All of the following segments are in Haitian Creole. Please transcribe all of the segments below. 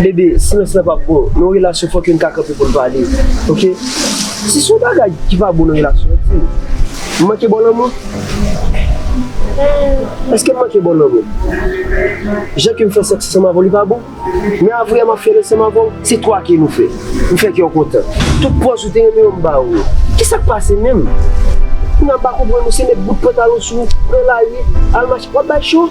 BD, silans la pap bon nan yon relasyon fòk youn ka kanpe poun pale ok si son bagay ki pa bon nan relasyon an dim m manke baw lanmou eskem manke baw lanmou jan kem fè sèks ansanm avèw li pa bon men avwe map fèl ansanm avèw se 3 ke nou fè m fè kèw kontan tout pòz ou te renmen yo m baw yo kisak pase menm kounya m pa konprann ou se met bout pantalon sou pran lari al mache wap bay cho.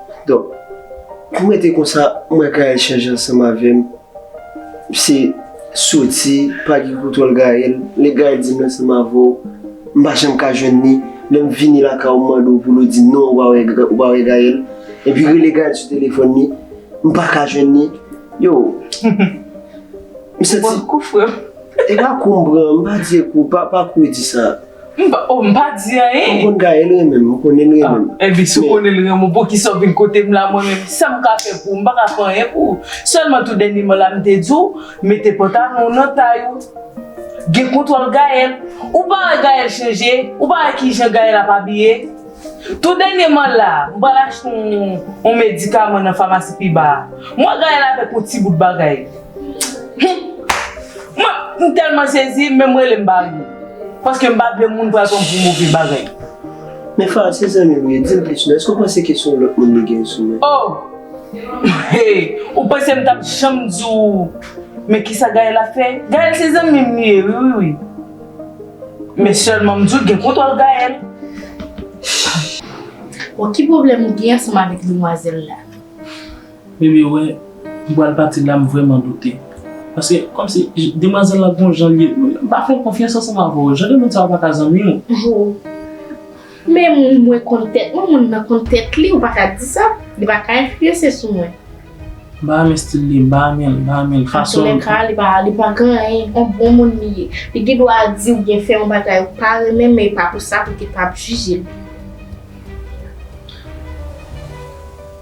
Dok, pou mwen te konsa, mwen ka echanje ansanm avè m. Se soti, pa gen kontwòl Gaël. Lè Gaël di m ansanm avè w, m pa janm ka jwenn li. Lè m vini lakay ou m mande w pou l ou di m non, ou pa wè Gaël. Epi rele Gaël sou telefòn li, m pa ka jwenn li. Yo, m santi. Bon kou frè m. E pa kou m pran, m pa di e kou, pa kou e di sa. M pa, oh m pa di anyen. M konn Gaëlle renmen m, m konnen li renmen m. Ah, enben si w konnen li renmen w, poukisa w vin kote m la mwen menm? Sa m ka fè pou ou? M pa ka fè anyen pou ou. Sèlman tou dènyèman la m te di w, mete pantalon w nan tay ou. Gen kontwòl Gaëlle. Ou pa wè Gaëlle chanje? Ou pa wè ki jan Gaëlle ap abiye? Tou dènyèman la, m pral achte yon medikaman nan famasi pi ba a. M wè Gaëlle avèk yon ti bout bagay. M telman sezi menm rele m pa rive. Paske m pa vle moun pral pran m pou move bagay. Men Fara se zanmi w ye, di m plis non. Èske w panse ke se yon lòt moun li gen sou li? Oh! Hey! Ou panse m t ap janm di w men kisa Gaëlle ap fè? Gaëlle se zanmi m li ye wi wi wi. Men sèlman m di w gen kontwòl Gaëlle. Bon ki pwoblèm ou gen ansanm avèk demwazèl la? Bebe wè m pral pati la m vrèman doute paske kòmsi demwazèl la gon jan li m pa fè l konfyans ansanm avè w jan de moun sa yo pa ka zanmi w. Ho men moun mwen konn tèt mwen moun nan konn tèt li ou pa ka di sa li pa ka enfliyanse sou mwen. M pa renmen stil li m pa renmen l m pa renmen l fason l. Antoulekaa li pa li pa gen anyen on bon moun li ye li gen dwa di ou byen fè yon bagay ou pa renmen men e pa pou sa pou te pa jije l.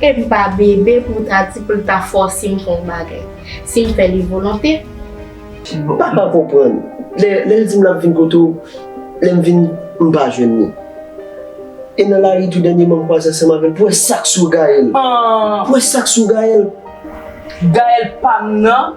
Em pa bebe pou w ta di pou l ta fòse m fè yon bagay. Si m fè li volonte. M pa ka konprann. Lè l di m l ap vin kote w, lè m vin m pa jwenn li. E nan lari tou dènyeman m kwaze ansanm avè l pou wè sa k sou Gaëlle. Pou wè sa k sou Gaëlle. Gaëlle pa m nan.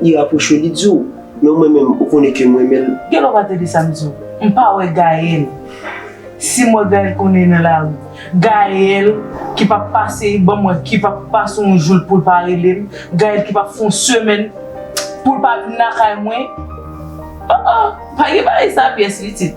Li rapwoche w li di w, men ou mwen menm ou konnen ke m renmen l. Gen lè w pa tande sa m di w. M pa wè Gaël. Si m wè Gaël konnen nan lari. Gaël ki pa pase ban m wè ki pa pase yon jou l pou l pa rele m. Gaël ki pa fè yon semèn pou l pa vin lakay mwen. Oh oh! Pa gen bagay sa pyès pitit.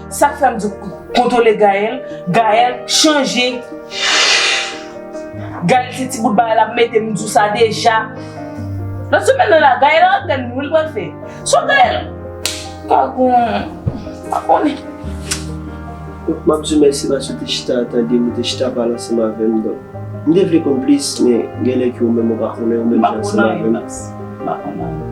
Sak fèm di w kontwole Gaël, Gaël chanje Gaël se ti bout bagay lap mete m di w sa deja nan semèn nan la Gaël antèn li wi l pral fè so Gaël pa gon pa konnen. Donk map di w mèsi paske w te chita ap tande m ou te chita ap pale ansanm avè m donk m te vle konn plis men genlè ke ou menm ou pa konnen ou menm jan ansanm avè m. M pa konnen anyen.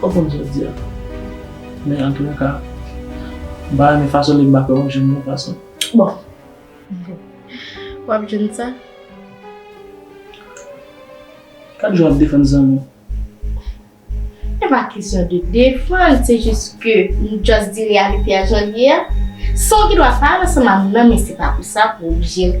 Pa konn sa di a. Men antoulèka, m pa renmen fason li bak la w ap jwenn yon fason. Bon! W ap jwenn sa. Kat jou w ap defann zanmi w? E pa kesyon de defann, se jis ke m just di reyalite a jan l ye a. San w gen dwa pa al ansanm ak m nan men se pa pou sa pou w oblije l.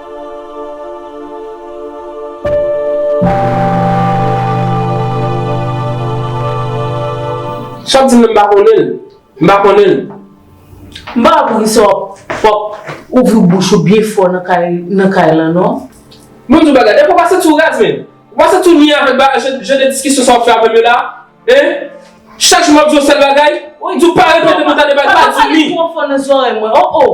Chak di m nan m pa konnen l. M pa konnen l. M pa wè poukisa w ap w ap ouvri bouch ou byen fò nan kay nan kay lan non. Mwen di w bagay, depi w pa santi w rèz menm, w pa santi w ni avèk ba jan de diskisyon sa w ap fè avè m yo la a, hein? Chak jou m ap di w sèl bagay, m di w pa repete m nan tande bagay, m pa di w ni. Ou pa pale twò fò nan zòrèy mwen, oh oh!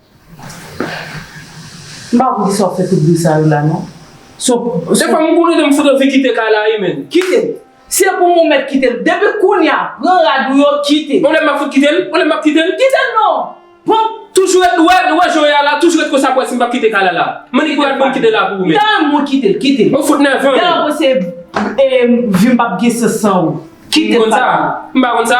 M pa konn kisa w ap fè tout bri sa yo la non. Se pa m konnen m fout anvi kite kay la wi menn. Kite l. Se pou m ou mèt kite l. Depi kounye a, pran rad ou yo kite. On lè m ap fout kite l? On lè m ap kite l? Kite l non! Pran. Toujou ret, ou wè, ou wè jan w ye a la, toujou ret konsa ap wè si m p ap kite kay la la. M annik pou rad mwen m kite l la pou ou menn. Tan mwen kite l, kite l. Ou fout nève m. Tan mwen se, e, vi m p ap gen sans san ou. Kite l pa. M konn sa. M pa konn sa.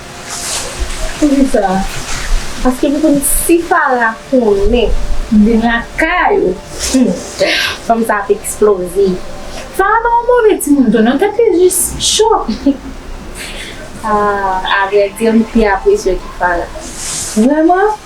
Poukisa? Paske m konn si Fara konnen m vin lakay ou, hum, fanm sa ap eksploze. Fara pa yon move timoun tou non, tèt li jis cho. Ahh, avrèdi m pi apresye w ke Fara. Vrèman?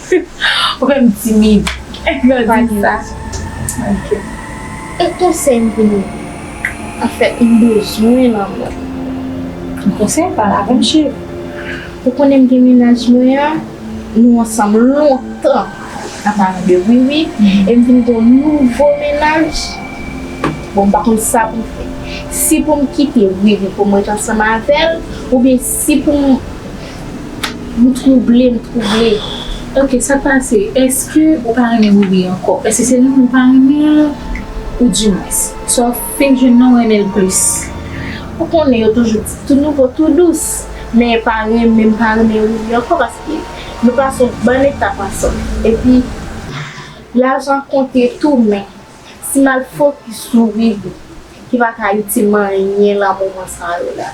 Ou fè m timid lè w di sa. Yon konsèy pou nou. Anfèt m bezwen lanmou. Yon konsèy pale avè m cheri. Ou konnen m gen mennaj mwen an nou ansanm lontan a palan de wiwi e m vin gen yon nouvo mennaj bon m pa konn sa pou m fè si pou m kite wiwi pou m ret ansanm avè l oubyen si pou m M trouble m trouble Ok sak pase eske ou pa renmen Rubi ankò eske se renmen ou pa renmen l ou di mwens sa w fenk jwenn nan ou renmen l plis ou konnen yo toujou di tou nouvo tou dous men pa renmen m pa renmen Rubi ankò paske nou pase yon bon etap ansanm epi lajan konte tou men si m al fokis sou Rubi ki pa ka itil m anyen lan moman sa yo la.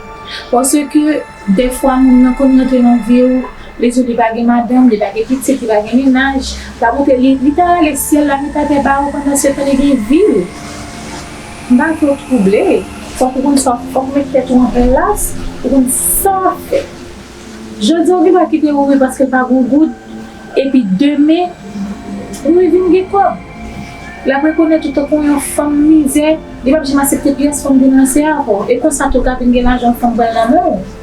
Paske dèfwa moun nan konn rantre nan viw, li diw li pa gen madanm, li pa gen pitit, li pa gen mennaj, sa montre li ta rale syèl la met atè ba ou pandan setan li gen viw. M pa vle w twouble, fòk ou konn sa, fòk ou met tèt ou an plas, ou konn sa wap fè. Jodi ou gen dwa kite Riri paske l pa gon goud epi demen Riri vin gen kòb. L ap rekonèt ou tankou yon fanm mizè, li pap janm asepte pyès fanm vin ranse avè w. E konsa tou w ka vin gen lajan yon fanm pral nan men w.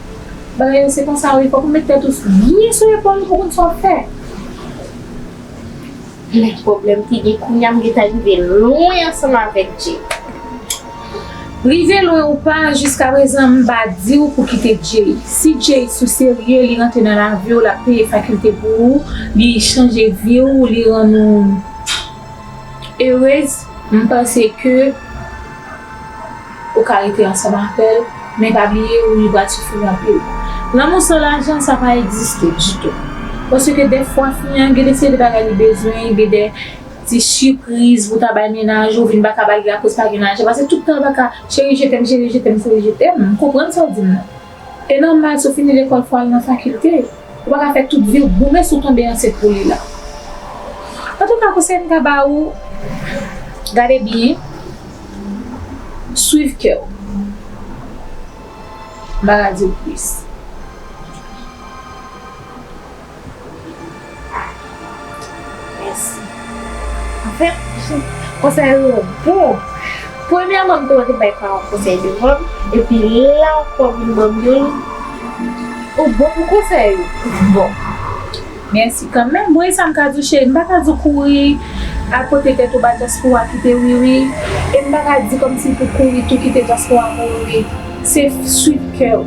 Bagay yo se konsa wi, fòk ou met tèt ou byen sou epòl ou pou w konn sa w ap fè. Menm pwoblèm te gen kounya m gentan rive lwen ansanm avèk Jay. Rive lwen ou pa, jiskaprezan m pa di w pou kite Jay. Si Jay sou serye, li rantre nan lavi w, l ap peye fakilte pou ou, li chanje vi w, li rann ou erez, m panse ke. Ou ka rete ansanm avèl, men pa bliye ou li pral soufri anpil. Lanmou san lajan sa pa egziste ditou. Paske dèfwa fi an gen de seri de bagay li bezwen, gen de ti sipriz pou ta bay mennaj ou, ou vin pa ka ba li akoz pa gen lajan. Pase tout tan ou pa ka cheri je tèm, cheri je tèm, cheri je tèm, m konprann sa w di m nan. E nòmal si w fini lekòl fò w al nan fakilte. Ou pa ka fè tout vi w goumen si w tonbe ansent pou li la. Antouka konsèy m ka ba ou, gade byen, swiv kè w. M pa ka di w plis. Mèsi. Anfèt, konsèy ou yo bon. Premyèman, m konn te bay paran konsèy devan m, epi la ou pran vin ban m youn, ou bon pou konsèy ou. Bon. Mèsi kanmenm. Bon, e sa m ka di w cheri? M pa ka di w kouri al pote tèt ou ba dyaspora kite Wiwi, e m pa ka di kòmsi pou w kouri tou kite dyaspora mouri. Se swit kè ou.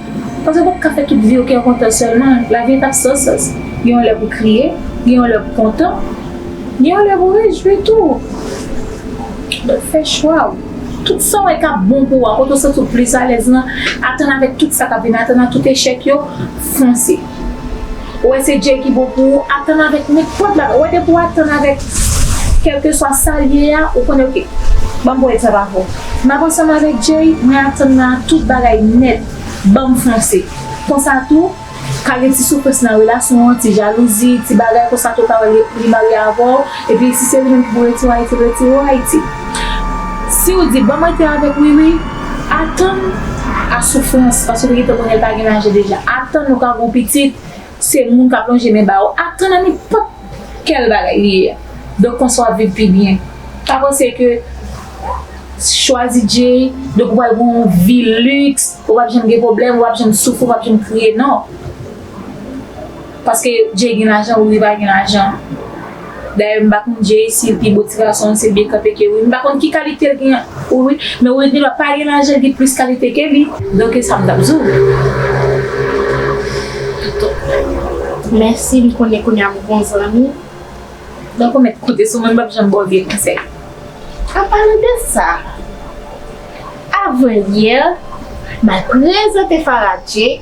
Paske wap ka fè tout viw kè kontan sèlman, lavi an tap san sans, gen yon lè pou kriye, gen yon lè pou kontan, gen yon lè pou rejwi tou, donk fè chwaw, tout sa wè kap bon pou ou a, kote ou santiw plis alèz lan, atann avèk tout sa kap vini, atann ak tout echèk yo, fonse. Ou wè se Jay ki bon pou ou, atann avèk nenpòt bagay. Ou wè depi ou atann avèk kèlkeswa sa l ye a, ou konnen ok, ban m pwèt sa pa bon. M ap ansanm avèk Jay, mwen atann nan tout bagay nèt, ban m fonse. Konsa tou, ka gen ti soufrans nan relasyon an, ti jalouzi, ti bagay konsa tou ou ka wè li marye avè w. Epi si se ou menm ki pou retire Ayiti, retire w Ayiti. Si ou di banm rete avèk Wiwi, atann a soufrans paske ou te gentan konnen l pa gen lajan deja, atann ou ka gon pitit, se moun kap lonje men ba ou, atann a nenpòt kèl bagay li ye a. Donk konsa wap viv pi byen. Pa panse ke chwazi Jay, donk ou pral gen yon vi liks, ou pap janm gen pwoblèm, ou pap janm soufri, ou pap janm kriye, non. Paske Jay gen lajan ou li pa gen lajan dayè m pa konn Jay sil pi bo ti gason an se byen kanpe ke wi m pa konn ki kalite l gen ou wi men Witney pa pa gen lajan gen plis kalite ke li. Donk e sa m tap di w wi. Mèsi m konnen kounya m gon zanmi. Donk ou mèt konte sou mwen m pap janm ba w vye konsèy. An palan de sa avan yè m al prezante Farah Jay.